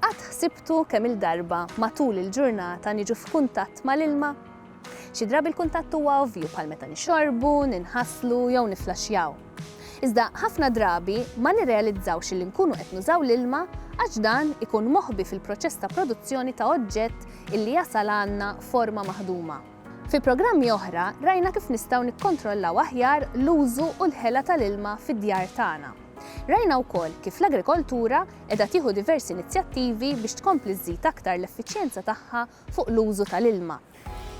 Qatt ħsibtu kemm-il darba matul il-ġurnata niġu f'kuntatt mal-ilma? Xi drabi l-kuntatt huwa ovvju bħal meta nixorbu, ninħaslu jew nifflaxxjaw. Iżda ħafna drabi ma nirrealizzawx li nkunu qed nużaw l-ilma għax dan ikun moħbi fil-proċess ta' produzzjoni ta' oġġett illi jasal għandna forma maħduma. Fi programmi oħra rajna kif nistgħu nikkontrollaw aħjar l-użu u l-ħela tal-ilma fid-djar tagħna. Rajna wkoll kif l-agrikoltura qiegħda tieħu diversi inizjattivi biex tkompli żżid aktar l-effiċjenza tagħha fuq l-użu tal-ilma.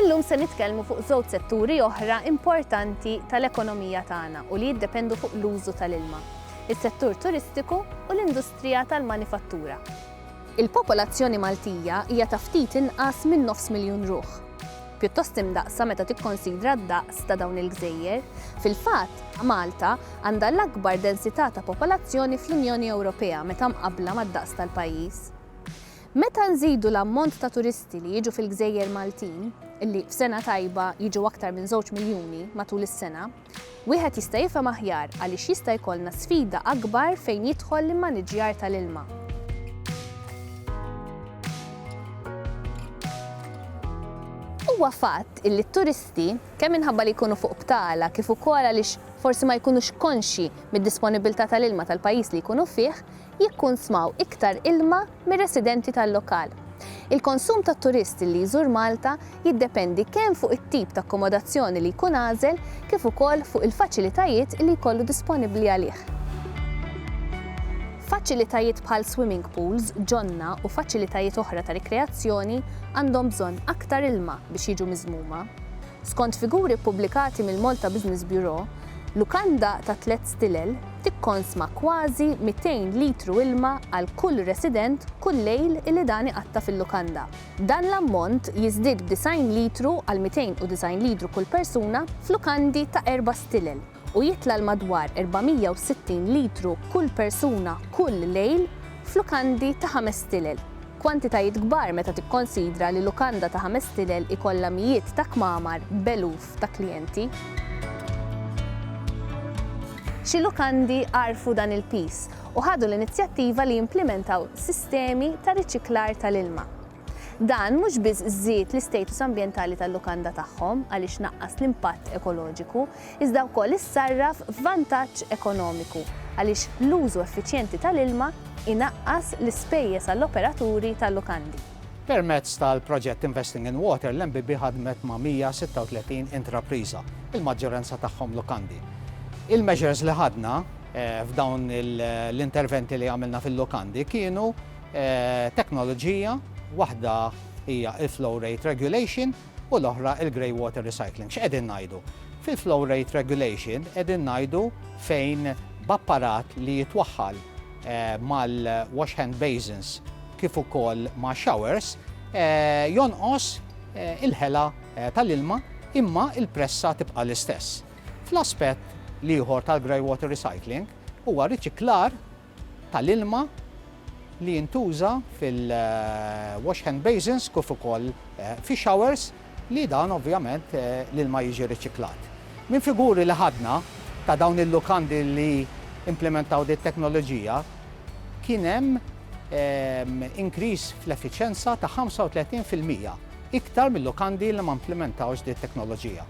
Illum se nitkellmu fuq żewġ setturi oħra importanti tal-ekonomija tagħna u li jiddependu fuq l-użu tal-ilma, is-settur turistiku u l-industrija tal-manifattura. Il-popolazzjoni Maltija hija ta' ftit inqas minn nofs miljun ruħ. pjuttost imdaqqsa meta tikkonsidra d-daqs ta' dawn il-gżejjer. Fil-fatt, Malta għandha l-akbar densità ta' popolazzjoni fl-Unjoni Ewropea meta mqabbla mad-daqs tal-pajjiż. Meta nżidu l-ammont ta' turisti li jiġu fil-gżejjer Maltin, li f'sena tajba jiġu aktar minn żewġ miljuni matul is-sena, Wieħed jista' jifhem aħjar għaliex jista' jkollna sfida akbar fejn jidħol l-immaniġġjar tal-ilma. Huwa fatt illi t-turisti, kemm minħabba li jkunu fuq btala kif ukoll għaliex forsi ma jkunux konxji mid-disponibbiltà tal-ilma tal-pajjiż li jkunu fih, jikkunsmaw iktar ilma mir-residenti tal-lokal. Il-konsum tat-turist li jżur Malta jiddependi kemm fuq it-tip ta' akkomodazzjoni li jkun għażel kif ukoll fuq il-faċilitajiet li jkollu disponibbli għalih. Faċilitajiet bħal swimming pools, ġonna u faċilitajiet oħra ta' rikreazzjoni għandhom bżonn aktar ilma biex jiġu miżmuma. Skont figuri ppubblikati mill-Malta Business Bureau, lukanda ta' tliet stilel, tikkonsma kważi 200 litru ilma għal kull resident kull lejl illi dan iqatta' fil-lukanda. Dan l-ammont jiżdied b'disgħin litru għal 290 litru kull persuna f'lukandi ta' erba' stilel u jitla' l-madwar 460 litru kull persuna kull lejl f'lukandi ta' ħames stilel, kwantitajiet kbar meta tikkonsidra li lukanda ta' ħames stilel ikollha mijiet ta' kmamar b'eluf. f'grupp ta' klijenti. Xi lukandi għarfu dan il-piż u ħadu l-inizjattiva li jimplimentaw sistemi ta' riċiklar tal-ilma. Dan mhux biss żied l-istatus ambjentali tal-lukanda tagħhom għaliex naqqas l-impatt ekoloġiku, iżda wkoll issarraf f'vantaġġ ekonomiku għaliex l-użu effiċjenti tal-ilma inaqqas l-ispejjeż għall-operaturi tal-lukandi. Permezz tal-proġett Investing in Water, l-MBB ħadmet ma' 136 intrapriża, il-maġġoranza tagħhom lukandi. Il-measures li ħadna f'dawn l-interventi li għamilna fil-lukandi kienu teknoloġija, waħda hija l-Flow Rate Regulation u l-oħra l-Grey Water Recycling. X'qegħdin ngħidu? Fil-Flow Rate Regulation qegħdin ngħidu fejn b'apparat li jitwaħħal mal-wash hand basins kif ukoll ma' showers jonqos il-ħela tal-ilma imma l-pressa tibqa' l-istess. Fl-aspett l-ieħor tal-greywater recycling huwa riċiklar tal-ilma li jintuża fil-wash hand basins kif ukoll fix-showers li dan ovvjament l-ilma jiġi riċiklat. Minn figuri li ħadna ta' dawn il-lukandi li implimentaw din it-teknoloġija, kien hemm inkriż fl-effiċjenza ta' 35 fil-mija iktar mil-lukandi li ma implimentawx din it-teknoloġija.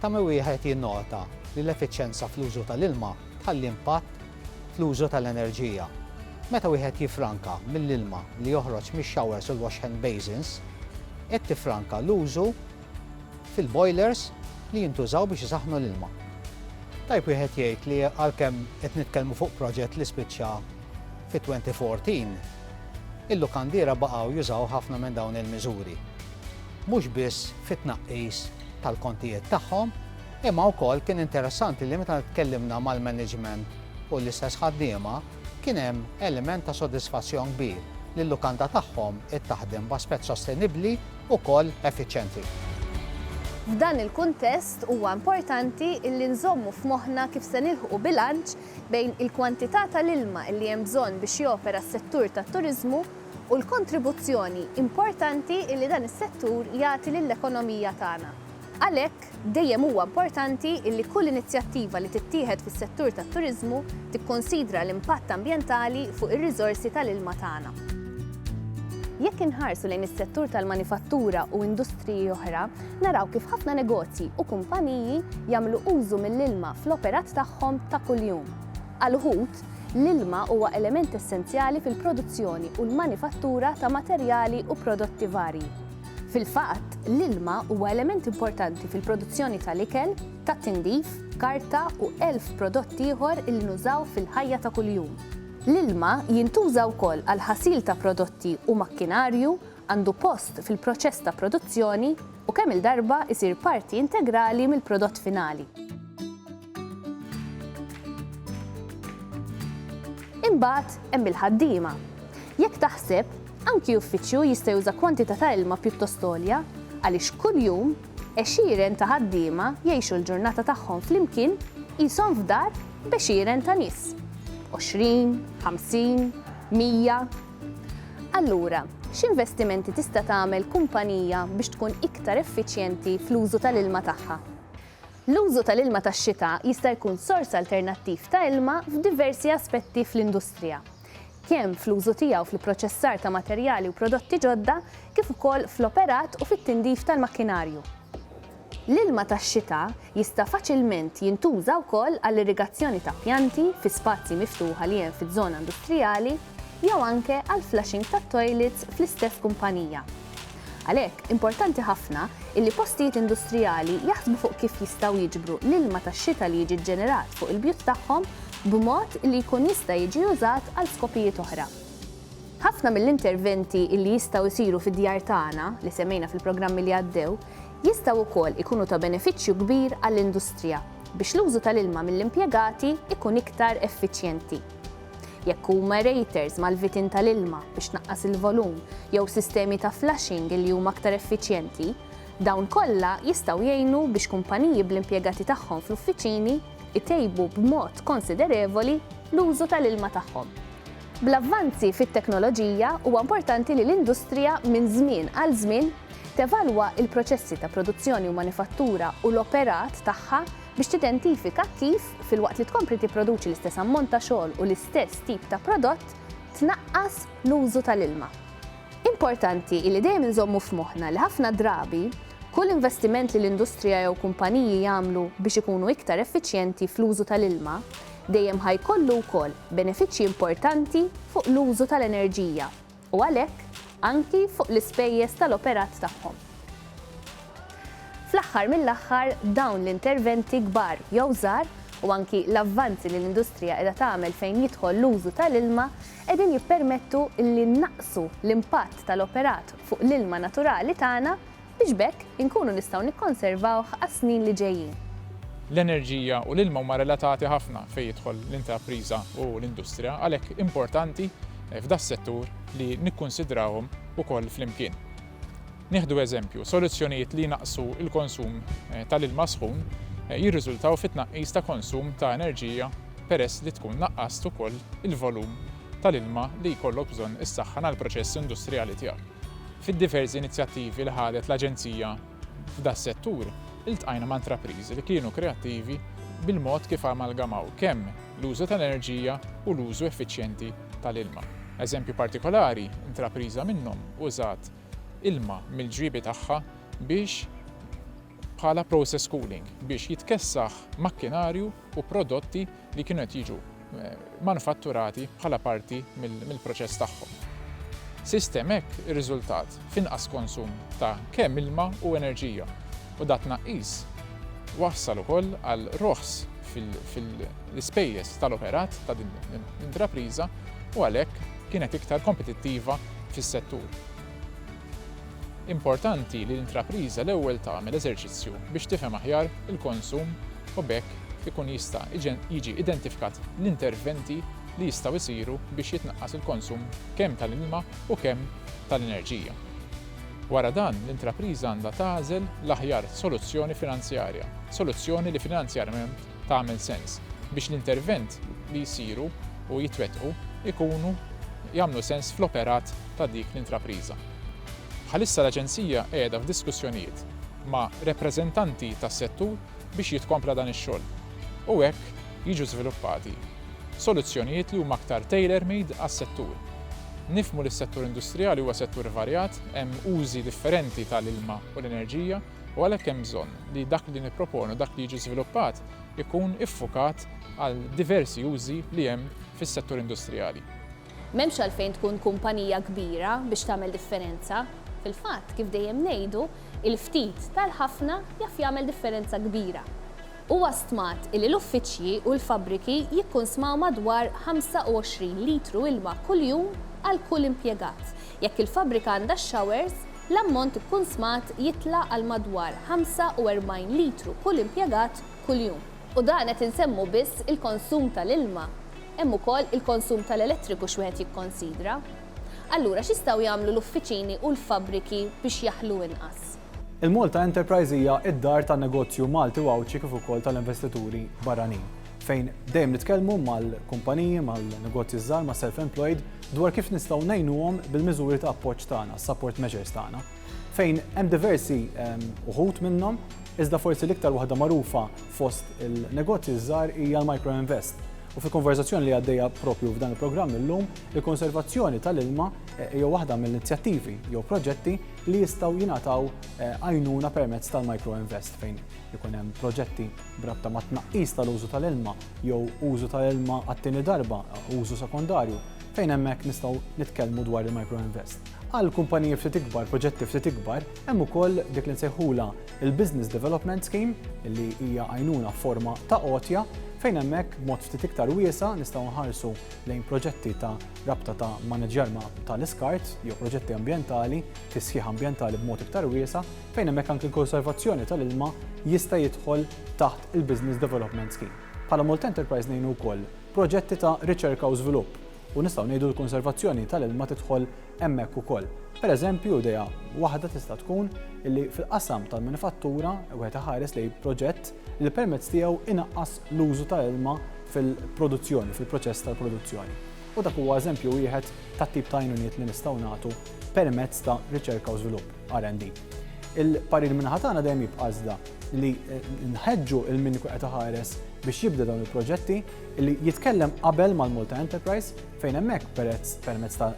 Ta' min wieħed jinnota li l-effiċjenza fl-użu tal-ilma tħalli impatt fl-użu tal-enerġija. Meta wieħed jiffranka mill-ilma li joħroġ mix-showers u l-wash hand basins, qed tiffranka l-użu fil-boilers li jintużaw biex isaħħnu l-ilma. Tajjeb wieħed jgħid li għalkemm qed nitkellmu fuq proġett li spiċċa fit-2014, il-lukandiera baqgħu jużaw ħafna minn dawn il-miżuri. Mhux biss fit-tnaqqis tal-kontijiet tagħhom, Imma wkoll kien interessanti li meta tkellimna mal-management u l-istess ħaddiema, kien hemm element ta' sodisfazzjon kbir li l-lukanda tagħhom qed taħdem b'aspett sostenibbli wkoll effiċjenti. F'dan il-kuntest huwa importanti li nżommu f'moħħna kif se nilħqu bilanċ bejn il-kwantità tal-ilma li hemm bżonn biex jopera s-settur tat-turiżmu u l-kontribuzzjoni importanti li dan is-settur jagħti lill-ekonomija tagħna. Għalhekk, dejjem huwa importanti li kull inizjattiva li tittieħed fis-settur tat-turiżmu tikkunsidra l-impatt ambjentali fuq ir-riżorsi tal-ilma tagħna. Jekk inħarsu lejn is-settur tal-manifattura u industriji oħra, naraw kif ħafna negozji u kumpaniji jagħmlu użu mill-ilma fl-operat tagħhom ta' kuljum. Għal uħud, l-ilma huwa element essenzjali fil-produzzjoni u l-manifattura ta' materjali u prodotti varji. Fil-fatt, l-ilma huwa element importanti fil-produzzjoni tal-ikel, tat-tindif, karta u elf prodott ieħor li nużaw fil-ħajja ta' kuljum. L-ilma jintuża wkoll għall-ħasil ta' prodotti u makkinarju, għandu post fil-proċess ta' produzzjoni u kemm-il darba jsir parti integrali mill-prodott finali. Imbagħad hemm il-ħaddiema. Jekk taħseb, anki uffiċċju jista' juża kwantità ta' ilma pjuttost għolja għaliex kuljum għexieren ta' ħaddiema jgħixu l-ġurnata tagħhom flimkien qishom f'dar b'għexieren ta' nies. Għoxrin, ħamsin, mija. Allura, x'investimenti tista' tagħmel kumpanija biex tkun iktar effiċjenti fl-użu tal-ilma tagħha? L-użu tal-ilma tax-xita jista' jkun sors alternattiv ta' ilma f'diversi aspetti fl-industrija, kemm fl-użu tiegħu fl-ipproċessar ta' materjali u prodotti ġodda kif ukoll fl-operat u fit-tindif tal-makkinarju. L-ilma tax-xita jista' faċilment jintuża wkoll għall-irrigazzjoni ta' pjanti fi spazji miftuħa li hemm fiż-żona industrijali jew anke għall-flushing tat-toilets fl-istess kumpanija. Għalhekk, importanti ħafna illi postijiet industrijali jaħsbu fuq kif jistgħu jiġbru l-ilma tax-xita li jiġi ġġenerat fuq il-bjut tagħhom b'mod li jkun jista' jiġi użat għal skopijiet oħra. Ħafna mill-interventi illi jistgħu jsiru fid-djar tagħna, li semmejna fil-programmi li għaddew, jistgħu wkoll ikunu ta' benefiċċju kbir għall-industrija biex l-użu tal-ilma mill-impjegati jkun iktar effiċjenti. Jekk huma aerators mal-vitin tal-ilma biex tnaqqas il-volum jew sistemi ta' flushing li huma aktar effiċjenti, dawn kollha jistgħu jgħinu biex kumpaniji bl-impjegati tagħhom fl-uffiċini jtejbu b'mod konsiderevoli l-użu tal-ilma tagħhom. Bl-avvanzi fit-teknoloġija, huwa importanti li l-industrija minn żmien għal żmien tevalwa l-proċessi ta' produzzjoni u manifattura u l-operat tagħha Biex tidentifika kif, filwaqt li tkompli tipproduċi l-istess ammont ta' xogħol u l-istess tip ta' prodott, tnaqqas l-użu tal-ilma. Importanti hi li dejjem inżommu f'moħħna li ħafna drabi, kull investiment li l-industrija jew kumpaniji jagħmlu biex ikunu iktar effiċjenti fl-użu tal-ilma, dejjem ħa jkollu wkoll benefiċċji importanti fuq l-użu tal-enerġija. u għalhekk anki fuq l-ispejjeż tal-operat tagħhom. Fl-aħħar mill-aħħar, dawn l-interventi kbar jew żgħar, u anki l-avvanzi li l-industrija qiegħda tagħmel fejn jidħol l-użu tal-ilma, qegħdin jippermettu li nnaqqsu l-impatt tal-operat fuq l-ilma naturali tagħna, biex b'hekk inkunu nistgħu nikkonservawh għas-snin li ġejjin. L-enerġija u l-ilma huma relatati ħafna fejn jidħol l-intrapriża u l-industrija, għalhekk importanti f'das-settur li nikkunsidrawhom ukoll flimkien. Nieħdu eżempju, soluzzjonijiet li jnaqqsu l-konsum tal-ilma sħun jirriżultaw fi tnaqqis ta' konsum ta' enerġija peress li tkun naqqast ukoll il-volum tal-ilma li jkollok bżonn issaħħan għall-proċess industrijali tiegħek. Fid-diversi inizjattivi li ħadet l-Aġenzija f'das-settur, iltqajna ma' intrapriżi li kienu kreattivi bil-mod kif amalgamaw kemm l-użu tal-enerġija u l-użu effiċjenti tal-ilma. Eżempju partikolari, intrapriża minnhom użat ilma mill-ġriebi tagħha biex bħala process cooling biex jitkessaħ makkinarju u prodotti li kienu qed jiġu manifatturati bħala parti mill-proċess tagħhom. Sistem hekk irriżultat f'inqas konsum ta' kemm ilma u enerġija u da' tnaqqis wassal ukoll għal roħs fil-ispejjeż tal-operat ta' din l-intrapriża u għalhekk kienet iktar kompetittiva fis-settur. Importanti li l-intrapriża l-ewwel tagħmel eżerċizzju biex tifhem aħjar il-konsum u b'hekk ikun jista' jiġi identifikat l-interventi li jistgħu jsiru biex jitnaqqas il-konsum kemm tal-ilma u kemm tal-enerġija. Wara dan, l-intrapriża għandha tagħżel l-aħjar soluzzjoni finanzjarja, soluzzjoni li finanzjarjament tagħmel sens, biex l-intervent li jsiru u jitwettqu jkunu jagħmlu sens fl-operat ta' dik l-intrapriża. Bħalissa l-Aġenzija qiegħda f'diskussjonijiet ma' repreżentanti tas-settur biex jitkompla dan ix-xogħol u hekk jiġu żviluppati soluzzjonijiet li huma aktar tailor-made għas-settur. Nifhmu li s-settur industrijali huwa settur varjat, hemm użi differenti tal-ilma u l-enerġija, u għalhekk hemm bżonn li dak li nipproponu, dak li jiġi żviluppat ikun iffukat għal diversi użi li hemm fis-settur industrijali. M'hemmx għalfejn tkun kumpanija kbira biex tagħmel differenza. Fil-fatt, kif dejjem ngħidu, il-ftit tal-ħafna jaf jagħmel differenza kbira. Huwa stmat li l-uffiċċji u l-fabbriki jikkunsmaw madwar 25 litru ilma kuljum għal kull impjegat. Jekk il-fabbrika għandha x-showers, L-ammont ikkunsmat jitla' għal madwar 45 litru kull impjegat kuljum. U dan qed insemmu biss il-konsum tal-ilma. Hemm ukoll il-konsum tal-elettriku x'wieħed jikkonsidra. Allura x'jistgħu jagħmlu l-uffiċini u l-fabbriki biex jaħlu inqas? Il-Malta Enterprise hija d-dar tan-negozju Malti u Għawdxi kif ukoll tal-investituri barranin. fejn dejjem nitkellmu mal-kumpaniji, mal-negozji żgħar, ma' self-employed dwar kif nistgħu ngħinuhom bil-miżuri ta' appoġġ tagħna, support measures tagħna. Fejn hemm diversi ehm, uħut minnhom, iżda forsi l-iktar waħda magħrufa fost il-negozji żgħar hija l-micro invest U fi konverzazzjoni li għaddejja propju f'dan il-programm illum, il-konservazzjoni tal-ilma eh, jew waħda mill-inizjattivi jew proġetti li jistgħu jingħataw eh, għajnuna permezz tal-micro invest fejn ikun hemm proġetti b'rabta mat-tnaqqis tal-użu tal-ilma jew użu tal-ilma għat-tieni darba, użu sekondarju, fejn hemmhekk nistgħu nitkellmu dwar il-microinvest. Għal kumpaniji ftit ikbar, proġetti ftit ikbar, hemm ukoll dik li nsejħulha l-business development scheme, li hija għajnuna f'forma ta' għotja, fejn hemmhekk b'mod ftit iktar wiesa' nistgħu nħarsu lejn proġetti ta' rabta ta' maniġjar tal-iskart jew proġetti ambjentali, tisħiħ ambjentali b'mod iktar wiesa', fejn hemmhekk anki l-konservazzjoni tal-ilma jista' jidħol taħt il-Business Development Scheme. Bħala Malta Enterprise ngħinu wkoll proġetti ta' riċerka u żvilupp u nistgħu ngħidu l-konservazzjoni tal-ilma tidħol hemmhekk ukoll. Pereżempju, idea waħda tista' tkun li fil-qasam tal-manifattura wieħed iħares lejn proġett li permezz tiegħu inaqqas l-użu tal-ilma fil-produzzjoni, fil-proċess tal-produzzjoni. U dak huwa eżempju wieħed tat-tip ta' għajnuniet li nistgħu nagħtu permezz ta' riċerka u żvilupp. RND. Il-parir min-naħa tagħna dejjem jibqa' iżda li nħeġġu lil min ikun qed iħares biex jibda dawn il-proġetti li jitkellem qabel mal-Malta Enterprise fejn hemmhekk perezz permezz ta'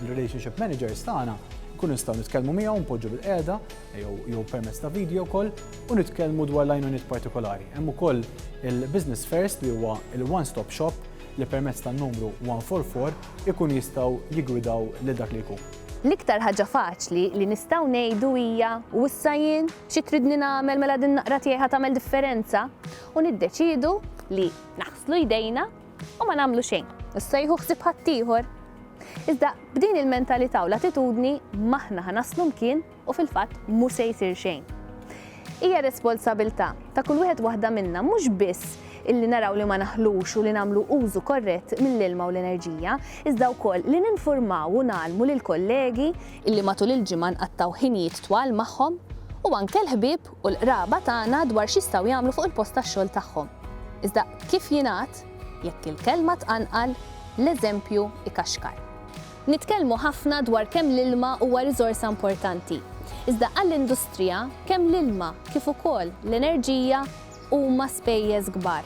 relationship managers tagħna nkunu nistgħu nitkellmu miegħu npoġġu bil-qiegħda jew permezz ta' video wkoll u nitkellmu dwar l-għajnuniet partikolari. Hemm ukoll il-Business First li huwa il-one stop shop li permezz tan-numru 144 ikun jistgħu jigwidaw lil dak li jkun. L-iktar ħaġa faċli li nistgħu ngħidu hija, U issa jien? Xi tridni nagħmel mela din naqra tiegħi ħa tagħmel differenza? U niddeċiedu li naħslu jdejna u ma nagħmlu xejn, u ssejħu ħsieb ħaddieħor. Iżda b'din il-mentalità u l-attitudni m'aħna ħa naslu mkien U fil-fatt mhu se jsir xejn. Hija responsabilità ta' kull wieħed waħda minna mhux biss illi naraw li ma naħlux u li nagħmlu użu korrett mill-ilma u l-enerġija, iżda wkoll li ninfurmaw u ngħallmu lill-kollegi, illi matul il-ġimgħa nqattgħu ħinijiet twal magħhom, u anke l-ħbieb u l-qraba tagħna dwar x'jistgħu jagħmlu fuq il-post tax-xogħol tagħhom. Iżda kif jingħad, jekk il-kelma tqanqal, l-eżempju jkaxkar. Nitkellmu ħafna dwar kemm l-ilma huwa riżorsa importanti. Iżda għall-industrija, kemm l-ilma kif ukoll l-enerġija huma spejjeż kbar.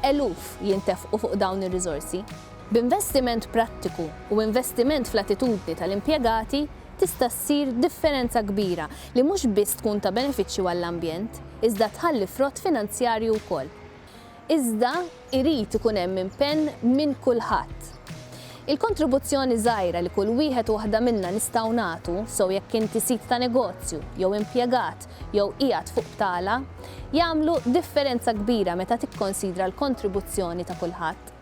Eluf jintefqu fuq dawn ir-riżorsi. B'investiment prattiku u investiment fl-attitudni tal-impjegati tista' ssir differenza kbira li mhux biss tkun ta' benefiċċju għall-ambjent, iżda tħalli frott finanzjarju wkoll. iżda irid ikun hemm impenn minn kulħadd. Il-kontribuzzjoni żgħira li kull wieħed u waħda minna nistgħu nagħtu, sew jekk inti sid ta' negozju, jew impjegat, jew qiegħed fuq btala, jagħmlu differenza kbira meta tikkonsidra l-kontribuzzjoni ta' kulħadd.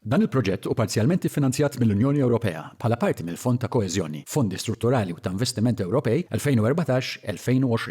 Dan il-proġett hu parzjalment iffinanzjat mill-Unjoni Ewropea bħala parti mill-Fond ta' Koeżjoni, Fondi Strutturali u ta' Investiment Ewropej 2014-2020.